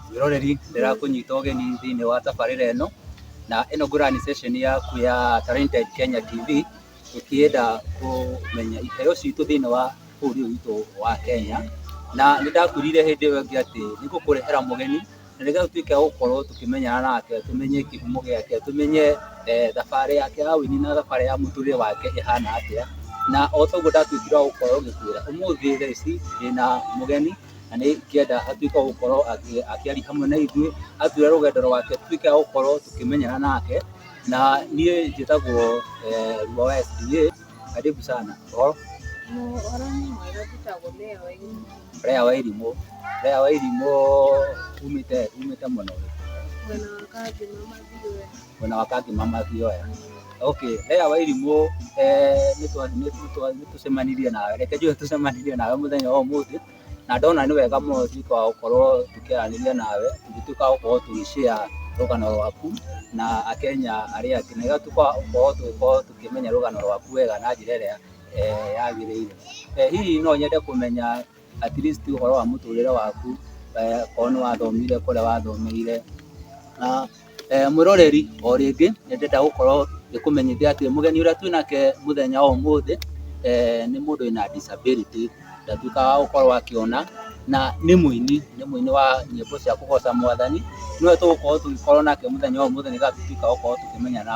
mwĩroreri ndĩrakũnyita ũgeni thĩinĩ wa tabarĩra ĩno na ĩno ngũra nĩ session yaku ya Talented Kenya TV ũkĩenda kũmenya iheo citũ thĩinĩ wa bũrũri ũyũ witũ wa Kenya, na nĩ ndakwĩrire hĩndĩ ĩyo ĩngĩ atĩ nĩ ngũkũrehera mũgeni na nĩgetha ũtuĩke wa gũkorwo tũkĩmenyana nake, tũmenye kĩhumo gĩake, tũmenye thabarĩ yake ya ũini na thabarĩ ya mũtũrĩre wake ĩhana atĩa, na o ta ũguo ndatuĩkire wa gũkorwo ngĩkwĩra, ũmũthĩ thaa ici ndĩna mũgeni na nĩ ingĩenda atuĩke wa gũkorwo akĩaria hamwe na ithuĩ, atwĩre rũgendo rwake tũtuĩke a gũkorwo tũkĩmenyana nake, na niĩ njĩtagwo Riũa wa SDA. Karibu sana. Oh, Rea wa Irimũ. Rea wa Irimũ umĩte umĩte mwena ũrĩkũ? Mwena wa Kangi mama Thioya. Okay, Rea wa Irimũ eh, nĩtwa- nĩtwa- nĩtũcemanirie nawe. Reke njuge tũcemanirie nawe mũthenya wa ũmũthĩ. na ndona nĩ wega mũno tuĩka wa gũkorwo tũkĩaranĩria nawe tũgĩtuĩka wa gũkorwo tũgĩshare rũgano rwaku na akenya arĩa angĩ na gũtuĩka wa gũkorwo tũgĩkorwo tũkĩmenya rũgano rwaku wega na njĩra ĩrĩa eh, yagĩrĩire Eh, hihi no nyende kũmenya at least ũhoro wa mũtũrĩre waku eh, korwo nĩ wathomire kũrĩa wathomeire na Eh, mwĩroreri o rĩngĩ nĩ ndĩrenda gũkorwo ngĩkũmenyithia atĩ mũgeni ũrĩa twĩ nake mũthenya wa ũmũthĩ eh, nĩ mũndũ wĩna disability ndatuĩka wa gũkorwo akĩona na nĩ mũini nĩ mũini wa nyĩmbo cia kũgoca mwathani nĩwe tũgũkorwo tũgĩkorwo nake mũthenya wa ũmũthĩ nĩgetha tũtuĩka gũkorwo tũkĩmenyana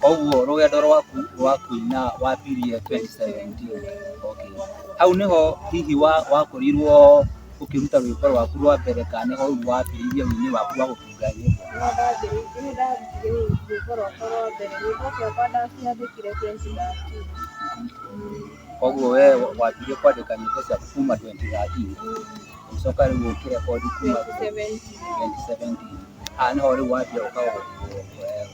Koguo rũgendo rwaku rwa kũina wambirie 2017. Okay. Hau nĩho hihi wa, wakorirwo ũkĩruta rwĩmbo rwaku rwa mbere kana nĩho rĩu wambĩrĩirie ũini waku wa gũtunga nyĩmbo? Nĩho ndambĩrĩirie, nĩho ndarutire rwĩmbo rwakwa rwa mbere. Rwĩmbo ciakwa ndaciandĩkire 2013. Koguo we wambirie kwandĩka nyĩmbo ciaku kuma 2013 ũgĩcoka rĩu ũkĩrekondi kuma 2017. 2017. Ah, nĩho rĩu wambia ũka-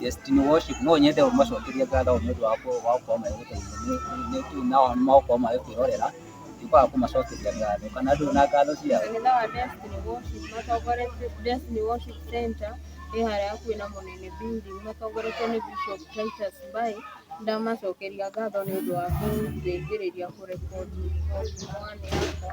Destiny Worship no nyende ũmacokerie ngatho nĩ ũndũ wa kũ- wa gũkorwo magĩgũteithia Nĩ- nĩ- nĩ tu nao magũkorwo magĩkwĩrorera ndikwaga kũmacokeria ngatho kana ndũrĩ na ngatho ciao Kanitha wa Destiny Worship matongoretio Destiny Worship Center ĩ harĩa hakuhĩ na Mũnene Building matongoretio nĩ Bishop Titus Mbai ndamacokeria ngatho nĩ ũndũ wa kũndeithĩrĩria kũrekodi mwanĩ yakwa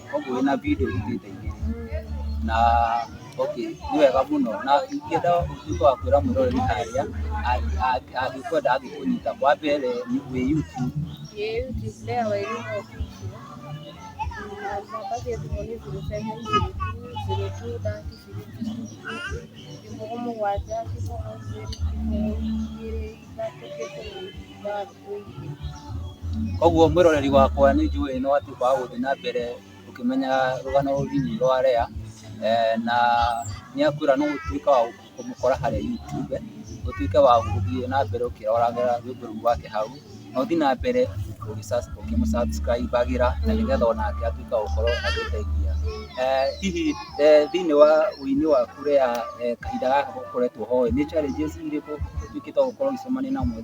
koguo wĩna video ituĩte igĩrĩ na okay nĩ wega mũno na ingĩenda ũtuĩke wa kwĩra mwĩroreri harĩa angĩkwenda angĩkũnyita wa mbere nĩ- wĩ YouTube Koguo mwĩroreri wakwa nĩ njũĩ nĩ watuĩka wa gũthiĩ na mbere ũkĩmenya rũgano rũrũ rwa Lea na nĩ akwĩra nĩ ũgũtuĩka wa kũmũkora harĩa YouTube, ũtuĩke wa gũthiĩ na mbere ũkĩroraga rwĩmbo rũu rwake hau na ũthiĩ na mbere ũkĩmũ subscribe agĩra na nĩgetha onake atuĩke wa gũkorwo agĩteithia. Hihi thĩinĩ wa ũini waku Lea kahinda gaka ũkoretwo ho nĩ challenges irĩkũ ũtuĩkĩte wa gũkorwo ũgĩcemania nacio?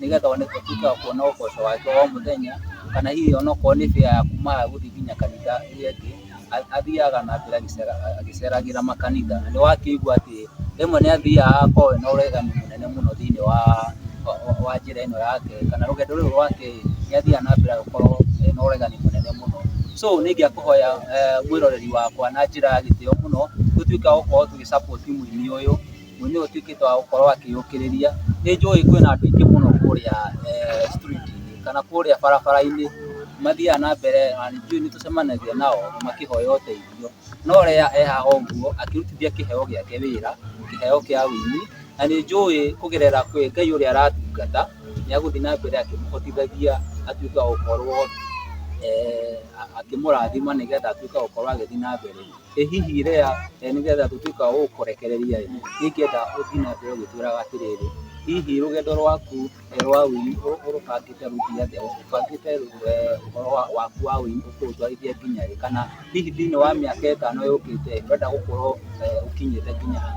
nĩgetha one tũtuĩke wa kuona ũboco wake wa o mũthenya kana hihi onokorwo nĩ bĩa ya kumaga gũthiĩ nginya kanitha ĩrĩa ĩngĩ a- athiaga na mbere agĩcera- agĩceragĩra makanitha na nĩ wakĩigua atĩ rĩmwe nĩ athiaga akorwo ena ũregani mũnene mũno thĩinĩ wa wa- wa- wa njĩra ĩno yake kana rũgendo rũrũ rwake nĩ athiaga na mbere agĩkorwo ena ũregani mũnene mũno so nĩ ingĩakũhoya eh, mwĩroreri wakwa na njĩra ya gĩtĩo mũno tũtuĩke a gũkorwo tũgĩ support mũini ũyũ Ũndũ ũyũ ũtuĩkĩte wa gũkorwo akĩyũkĩrĩria, nĩ njũĩ kwĩna andũ aingĩ mũno kũrĩa street -inĩ kana kũrĩa barabara-inĩ mathiaga na mbere na nĩ njũĩ nĩ tũcemanagia nao makĩhoya ũteithio. No ũrĩa e haha ũguo akĩrutithia kĩheo gĩake wĩra, kĩheo kĩa ũini, na nĩ njũĩ kũgerera kwĩ Ngai ũrĩa aratungata nĩ egũthiĩ na mbere akĩmũhotithagia atuĩke wa gũkorwo akĩmũrathima nĩgetha atuĩke wa gũkorwo agĩthiĩ na mbere. ĩ hihi Lea eh, nĩ getha tũtuĩka wa gũkũrekereria ĩ ingĩenda ũthiĩ na mbere ũgĩtwĩraga atĩrĩrĩ hihi rũgendo rwaku eh, rwa ũini ũ- ũrũbangĩte rũthiĩ atĩa ũbangĩte eh, ũhoro wa- waku wa ũini ũkũũtwarithia nginya rĩ kana hihi thĩinĩ wa mĩaka ĩtano yũkĩte ũrenda gũkorwo eh, ũkinyĩte nginya ha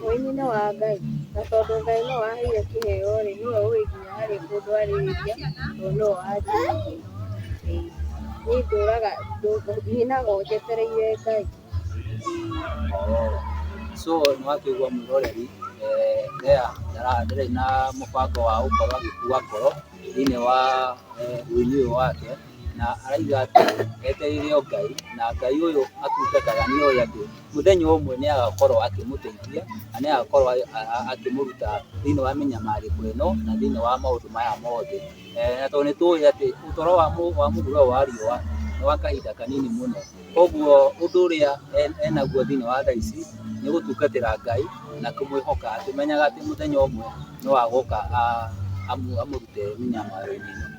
Ũini nĩ wa Ngai, na tondũ Ngai nĩwe waheire kĩheo rĩ, nĩwe ũĩ nginya harĩ mũndũ arĩrĩria, tondũ nĩwe wanjĩrĩirie. Ĩĩ. Niĩ ndũraga, nyinaga o njetereire Ngai. So nĩ wakĩigua mwĩroreri, eh, Lea ndara- ndarĩ na mũbango wa gũkorwo agĩkua ngoro thĩiniĩ wa eh, ũini ũyũ wake. na araiga atĩ etereire o Ngai, na Ngai ũyũ atungataga nĩ oĩ atĩ mũthenya ũmwe nĩ agakorwo akĩmũteithia, na nĩ agakorwo akĩmũruta thĩinĩ wa mĩnyamarĩko ĩno, na thĩinĩ wa maũndũ maya mothe. Na tondũ nĩ tũĩ atĩ ũtũro wa mũhuro ũyũ wa riũa nĩ wa kahinda kanini mũno, koguo ũndũ ũrĩa enaguo thĩinĩ wa thaa ici nĩ gũtungatĩra Ngai na kũmwĩhoka akĩmenyaga atĩ mũthenya ũmwe no agoka amũrute mĩnyamaro-inĩ ĩno.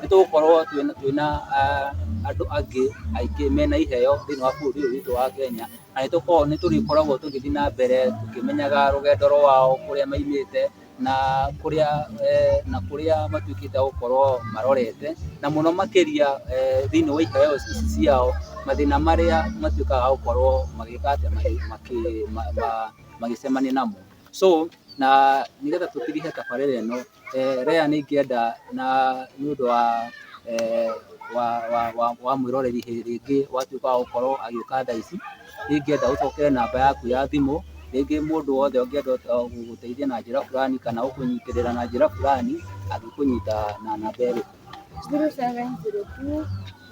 nĩ tũgũkorwo twĩna andũ angĩ aingĩ mena iheo thĩinĩ wa bũrũri ũyũ witũ wa Kenya, na nĩ tũkoragwo nĩ tũrĩkoragwo tũgĩthiĩ na mbere tũkĩmenyaga rũgendo rwao kũrĩa maimĩte na kũrĩa na kũrĩa matuĩkĩte a gũkorwo marorete, na mũno makĩria thĩinĩ wa iheo ici ciao, mathĩna marĩa matuĩkaga a gũkorwo magĩka atĩa magĩcemania namo. So na nĩgetha tũkĩrĩhe tabarĩra ĩno... eh, Rea nĩ ingĩenda na nĩ ũndũ wa eh, wa, wa, wa, wa mwĩroreri hĩ- rĩngĩ watuĩka wa gũkorwo agĩũka thaa ici nĩ ingĩenda ũcokere namba yaku ya thimũ rĩngĩ mũndũ wothe ũngĩenda eh, gũgũteithia na njĩra fulani kana gũkũnyitĩrĩra na njĩra fulani angĩkũnyita na namba ĩrĩkũ 0702 02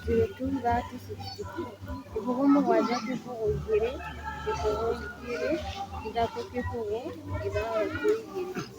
30 62 kĩbũgũ mũgwanja kĩbũgũ igĩrĩ kĩbũgũ igĩrĩ ithatũ kĩbũgũ ithatũ igĩrĩ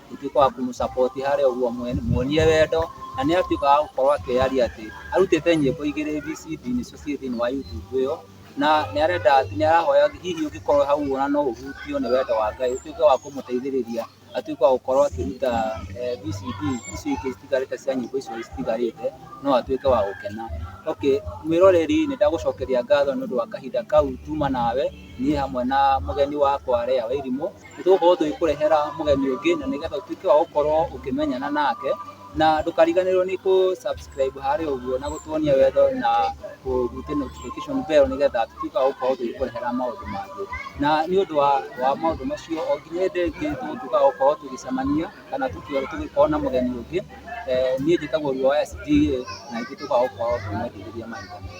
gũtuĩka wa kũmũ support harĩa ũguo mwene- muonie wendo na nĩ atuĩka wa gũkorwo akĩyaria atĩ arutĩte nyĩmbo igĩrĩ hihi CD nĩcio ciĩ thĩinĩ wa YouTube ĩyo na nĩ arenda nĩ arahoya hihi ũngĩkorwo hau ũguo na no ũhutio nĩ wendo wa Ngai ũtuĩke wa kũmũteithĩrĩria atuĩke wa gũkorwo akĩruta eh, VCD icio ingĩ citigarĩte cia nyĩmbo icio citigarĩte no atuĩke wa gũkena okay mwĩroreri nĩ ndagũcokeria ngatho nĩ ũndũ wa kahinda kau tuma nawe niĩ hamwe na mũgeni wakwa Lea Wairimũ nĩ tũgũkorwo tũgĩkũrehera mũgeni ũngĩ na nĩgetha ũtuĩke wa gũkorwo ũkĩmenyana nake na ndũkariganĩrwo nĩ kũ subscribe harĩa ũguo na gũtuonia wendo na kũhutia notification bell nĩgetha tũtuĩke wa gũkorwo tũgĩkũrehera maũndũ mangĩ na nĩ ũndũ wa, wa maũndũ macio o nginya hĩndĩ ĩngĩ tũgũtuĩka wa gũkorwo tũgĩcemania kana tũkĩ- tũgĩkorwo na mũgeni ũngĩ eh, niĩ njĩtagwo Riũa SDA na ithuĩ tũkoragwo gũkorwo tũmwendithĩria mahinda mothe.